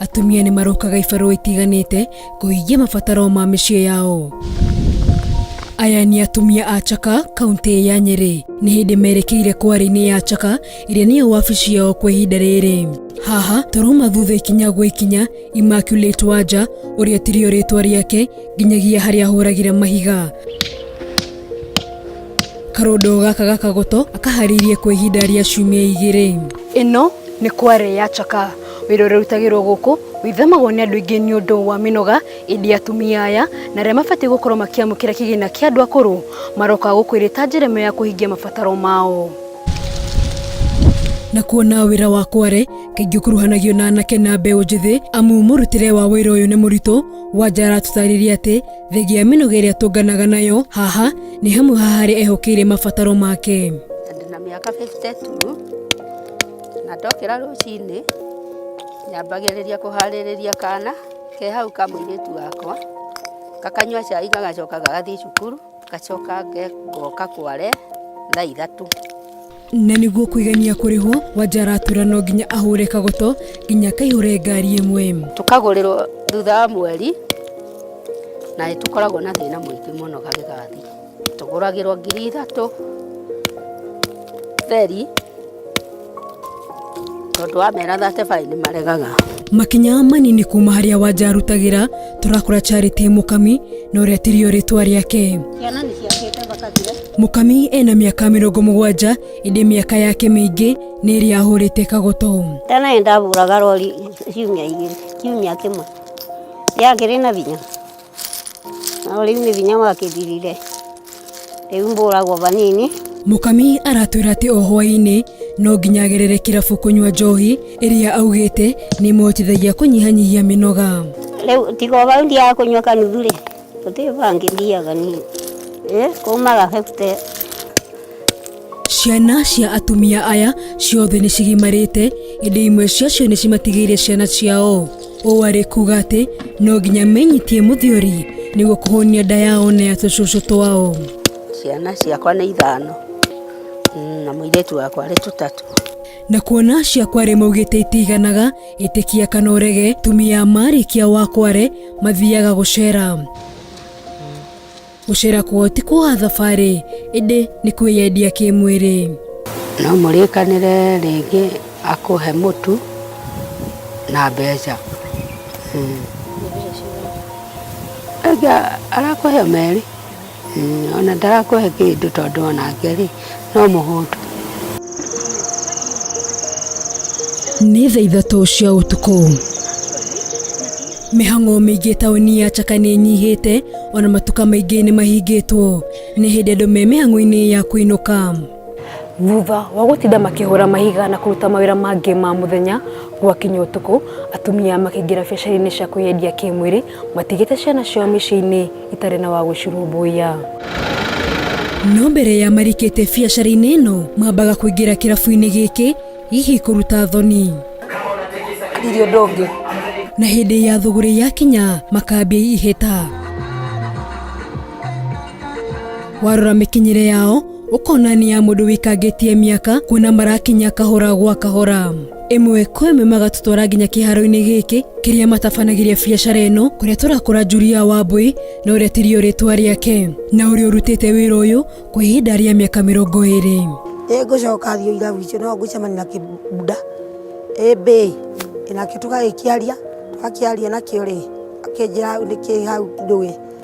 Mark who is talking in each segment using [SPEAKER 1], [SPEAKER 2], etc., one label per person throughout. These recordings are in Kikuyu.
[SPEAKER 1] Atumia nĩ marokaga ibarũa itiganĩte kũhingia mabataro ma mĩciĩ yao. Aya nĩ atumia a Chaka, kaunti ya Nyeri. Nĩ hĩndĩ merekeire kwarĩ-inĩ ya Chaka, ĩrĩa nĩyo wabici yao kwa ihinda rĩrĩ. Haha tũrauma thutha ikinya gwa ikinya, Immaculate Wanja, ũrĩa tirio rĩtwa rĩake, nginyagia harĩa ahũragĩra mahiga. Karondo gaka gakagoto akaharĩirie kwa ihinda rĩa ciumia igĩrĩ. Ĩno nĩ kwarĩ ya Chaka, Wĩra ũrĩa ũrutagĩrwo gũkũ wĩthemagwo nĩ andũ aingĩ nĩ ũndũ wa mĩnoga, ĩndĩ atumia aya na arĩa mabatiĩ gũkorwo makĩamũkĩra kĩgĩna kĩa andũ akũrũ maroka gũkũ ĩrĩ ta njĩra ĩmwe ya kũhingia mabataro mao. Na kuona wĩra wa Kware kaingĩ ũkuruhanagio na anake na mbeũ njĩthĩ amu mũrutĩre wa wĩra ũyũ nĩ mũritũ, Wanja aratũtarĩria atĩ thengia ya mĩnoga ĩrĩa atũnganaga nayo haha nĩ hamwe ha harĩa ehokeire mabataro make. Ndĩna mĩaka 52. Na ndokĩra rũcinĩ, nyambagĩrĩria kũharĩrĩria kana ke hau ka mũirĩtu wakwa, gakanyua cai gagacoka gagathiĩ cukuru, ngacoka ngoka kware thaa ithatũ. Na nĩguo kwĩgemia kũrĩhwo, Wanja aratura no nginya ahũre kagoto nginya akaihũre ngari ĩmwe. Tũkagũrĩrwo thutha wa mweri, na nĩ tũkoragwo na thĩna mũingĩ mũno gagĩgathira. tũgũragĩrwo ngiri ithatũ feri tondũ wamera 35 nĩ maregaga makinya manini kuma harĩa wanja arutagĩra tũrakora charity mũkami na ũrĩa tirio rĩtwa rĩake ciana nĩ ciakĩte bakathire mũkami ena mĩaka mĩrongo mũgwanja ĩndĩ mĩaka yake mĩingĩ nĩ ĩrĩa ahũrĩte kagoto tena nĩ ndahũraga rori ciumia igĩrĩ kiumia kĩmwe rĩakĩrĩ na binya Nao rĩu nĩ hinya wakĩthirire rĩu mbũragwo vanini Mũkami aratwĩra atĩ o hwaĩ-inĩ no nginya agerere kĩrabu kũnyua njohi ĩrĩa augĩte nĩ ĩmũhotithagia kũnyihanyihia mĩnoga. rĩu tiga o vau ndiaga kũnyua kanuthu rĩ gũtirĩ vangĩ thiaga niĩ ĩ kumaga 50 Ciana cia atumia aya ciothe nĩ cigimarĩte, ĩndĩ imwe ciacio nĩ cimatigĩire ciana ciao. Ũũ arĩ kuga atĩ no nginya menyitie mũthiori nĩguo kũhũnia nda yao na ya tũcũcũ twao. Ciana ciakwa nĩ ithano mm, na mũirĩtu wakwa arĩ tũtatũ. Na kuona cia kware maugĩte itiganaga, ĩtĩkia kana ũrege, tumia marĩkia wa kware mathiaga gũcera. Gũcera kwao ti kuoha thabarĩ, ĩndĩ nĩ kwĩyendia kĩmwĩrĩ. No mũrĩkanĩre rĩngĩ akũhe mũtu na mbeca. Arakũhe o merĩ, ona ndarakũhe kĩndũ tondũ onake-rĩ no mũhũtu. Nĩ thaa ithatũ cia ũtukũ. Mĩhang'o mĩingĩ taũni ya Chaka nĩ ĩnyihĩte, ona matuka maingĩ nĩ mahingĩtwo. Nĩ hĩndĩ andũ me mĩhang'o-inĩ ya kũinũka. Thutha wa gũtinda makĩhũra mahiga na kũruta mawĩra mangĩ ma mũthenya, gwakinya ũtukũ, atumia makĩingĩra biacara-inĩ cia kwĩyendia kĩmwĩrĩ Matigĩte ciana ciao mĩciĩ-inĩ itarĩ na wa gũcirũmbũiya. No mbere ya marĩkĩte biacara-inĩ ĩno, mambaga kũingĩra kĩrabu-inĩ gĩkĩ, hihi kũruta thoni. Ndirĩ ũndũ ũngĩ. Na hĩndĩ ya thũgũrĩ yakinya, makambia ihĩta. Warora mĩkinyĩre yao, ũkonania mũndũ wĩkangĩtie mĩaka kuona marakinya kahora gwa kahora ĩmwe kwa ĩmwe magatũtwara nginya kĩharo-inĩ gĩkĩ kĩrĩa matabanagĩria biacara ĩno kũrĩa tũrakora Julia Wambui na ũrĩa tirio rĩtwa rĩake na ũrĩa ũrutĩte wĩra ũyũ kwa ihinda rĩa mĩaka mĩrongo ĩrĩ ĩ ngũcoka thiũ ira witũ no ngũcemania na kĩbunda ĩ mbĩ nakĩo tũgagĩkĩaria twakĩaria nakĩo rĩ akĩnjĩra nĩkĩ hau ndũĩ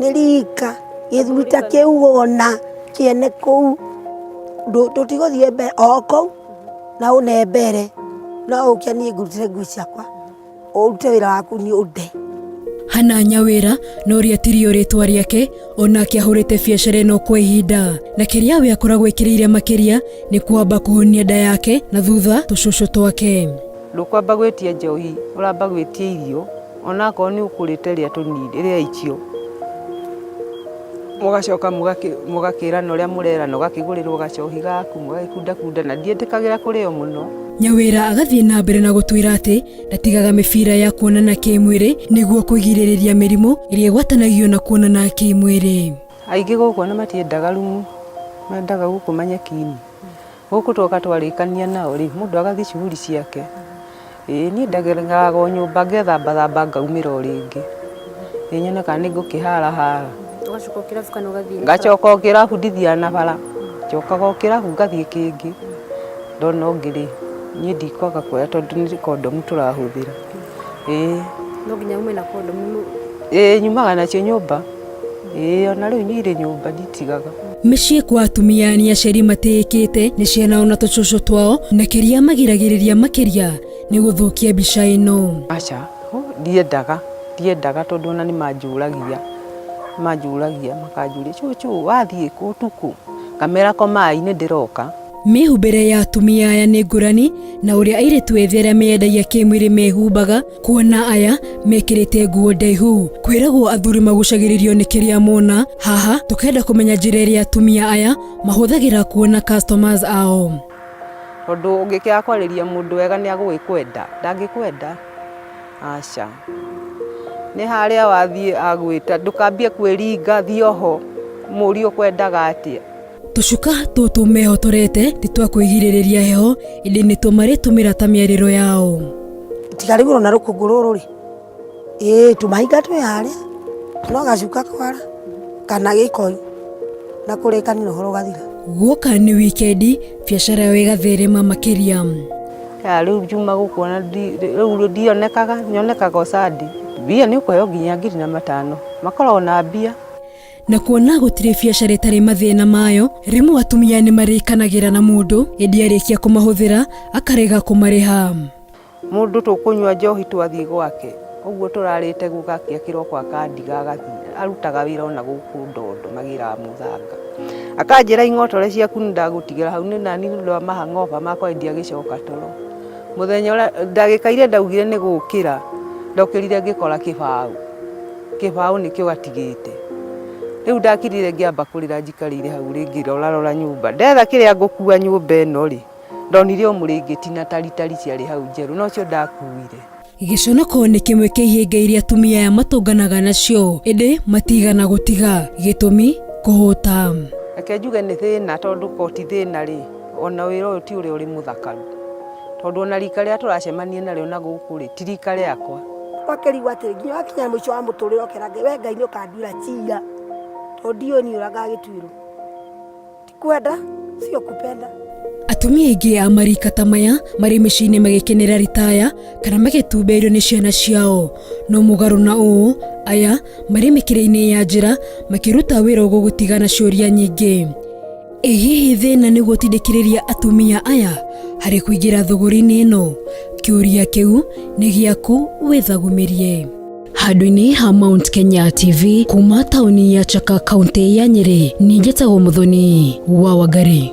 [SPEAKER 1] nĩ rika gĩthuri ta kĩu wona kĩene kũu ndũ- tũtigũthiĩ mbere o kũu na ũne mbere no ũkia niĩ ngũrutĩre ngui ciakwa ũrute wĩra waku nĩ ũnde hana nyawĩra no rĩatirio rĩtwa rĩake onake ahũrĩte biacara ĩno kwa ihinda na kĩrĩa we akoragwo ekĩrĩire makĩria nĩ kwamba kũhonia nda yake na thutha tũcũcũ twake ndũkwamba gwĩtia njohi ũramba gwĩtia irio Onakorwo nĩ ũkũrĩte rĩa tũnini rĩa icio mũgacoka mũgakĩrana ũrĩa mũrerana ũgakĩgũrĩrwo gacohi gaku mũgagĩkundakunda na ndiĩtĩkagĩra kũrĩo mũno. Nyawira agathiĩ na mbere na gũtwĩra atĩ ndatigaga mĩbira ya kuonana kĩmwĩrĩ nĩguo kwĩgirĩrĩria mĩrimũ ĩrĩa ĩgwatanagio na kuonana kĩmwĩrĩ. Aingĩ gũkũ ona matiendaga rumu, mendaga gũkũ manyekinĩ. Gũkũ twoka twarĩkania nao rĩ mũndũ agathiĩ shughuli ciake. Ĩĩ niĩ ndageraga o nyũmba ngethamba thamba ngaumĩra o rĩngĩ. Ĩĩ nyone kana nĩ ngũkĩhara hara. Ũgacoka o kĩrabu kana ũgathiĩ na bara? Ngacoka o kĩrabu ndithiaga na bara. Njokaga o kĩrabu ngathiĩ kĩngĩ. Ndona ũngĩ rĩ niĩ ndikwaga kuoya tondũ nĩ condom tũrahũthĩra. ĩĩ no nginya ume na kondomu nũ- ĩĩ nyumaga nacio nyũmba ĩĩ ona rĩu niĩ irĩ nyũmba nditigaga Mĩciĩ kwa atumia nĩ aciari matĩĩkĩte nĩ ciana ona tũcũcũ twao na kĩrĩa magiragĩrĩria makĩria nĩ gũthũkia mbica ĩno. aca hũ, ndiendaga ndiendaga tondũ ona nĩ manjũragia manjũragia makanjũria cũcũ wathiĩ kũ ũtukũ ngamera komai nĩ ndĩroka Mĩhumbĩre ya atumia aya nĩ ngũrani na ũrĩa airĩtu ethĩ arĩa meyendagia kĩmwĩrĩ mehumbaga, kuona aya mekĩrĩte nguo ndaihu. Kwĩragwo athuri magucagĩrĩrio nĩ kĩrĩa mona, haha tũkenda kũmenya njĩra ĩrĩa atumia aya mahũthagĩra kuona customers ao. Tondũ ũngĩkĩaga kwarĩria mũndũ wega nĩ agũgĩkwenda, ndangĩkwenda aca. Nĩ harĩa wathiĩ agwĩta ndũkambie kwĩringa, thiĩ oho, mũrie ũkwendaga atĩa. Tũcuka tũtũ mehotorete ti twa kwĩgirĩrĩria heho, ĩndĩ nĩtuo marĩtũmĩra ta mĩarĩro yao. Tigarĩgũrwo na rũkũngũ rũrũ rĩ, ĩĩ tũmahinga twĩ harĩa, no gacuka kwara kana gĩkoi na kũrĩkanĩra ũhoro ũgathira. Guoka nĩ wikendi, biacara yao ĩgatherema makĩria. Ya rĩu njuma gũkũ ona ndi- rĩu ndionekaga nyonekaga o Sunday. Mbia nĩ ũkũheo nginya ngiri na matano makoragwo na mbia. Na kuona gũtirĩ biacara ĩtarĩ mathĩna mayo, rĩmwe atumia nĩ marĩkanagĩra na mũndũ, ĩndĩ arĩkia kũmahũthĩra akarega kũmarĩha. Mũndũ tũkũnyua njohi twathiĩ gwake, ũguo tũrarĩte gũgakĩa kĩroko akandiga agathiĩ. Arutaga wĩra o na gũkũ Ndondo magĩraga mũthanga. Akanjĩra ing'otore ciaku nĩ ndagũtigĩra hau, nĩ nani nĩ ũndũ wa mahang'oba makwa ĩndĩ agĩcoka toro. Mũthenya ũrĩa, ndagĩka iria ndaugire nĩ gũkĩra, ndokĩrire ngĩkora kĩbaũ. Kĩbaũ nĩkĩo gatigĩte. Rĩu ndakirire ngĩamba kũrĩra njikarĩire hau rĩ ngĩrorarora nyũmba. Ndetha kĩrĩa ngũkua nyũmba ĩno rĩ, ndonire o mũrĩngĩti na taritari ciarĩ hau njerũ na ũcio ndakuire. Gĩconoko nĩ kĩmwe kĩa ihĩnga iria atumia aya matũnganaga nacio ĩndĩ matiigana gũtiga. Gĩtũmi, kũhũta. Reke njuge nĩ thĩna tondũ ko ti thĩna rĩ, o na wĩra ũyũ ti ũrĩa ũrĩ mũthakaru. Tondũ ona rika rĩrĩa tũracemania narĩo na gũkũ rĩ, ti rika rĩakwa. Ũkakĩrigwo atĩrĩ, nginya wakinya mũico wa mũtũrĩre ũkera Ngai, we Ngai nĩ ũkanduĩra cira, tondũ ndiũĩ niĩ ũrĩa ngagĩtuĩrwo. Ti kwenda, sio kupenda. Atumia aingĩ a marika ta maya marĩ mĩciĩ-inĩ magĩkenera ritaya kana magĩtumbĩirio nĩ ciana ciao. No mũgarũ na ũũ, aya marĩ mĩkĩra-inĩ ya njĩra makĩruta wĩra ũgũgũtiga na ciũria nyingĩ. Ĩ hihi thĩna nĩ gũtindĩkĩrĩria atumia aya harĩ kũingĩra thũgũrĩ-inĩ ĩno? Kĩũria kĩu nĩ gĩaku wĩthagũmĩrie. Handũ-inĩ ha Mount Kenya TV kuma taũni ya Chaka kaunti ya Nyĩrĩ, niĩ njĩtagwo Mũthoni wa Wangari.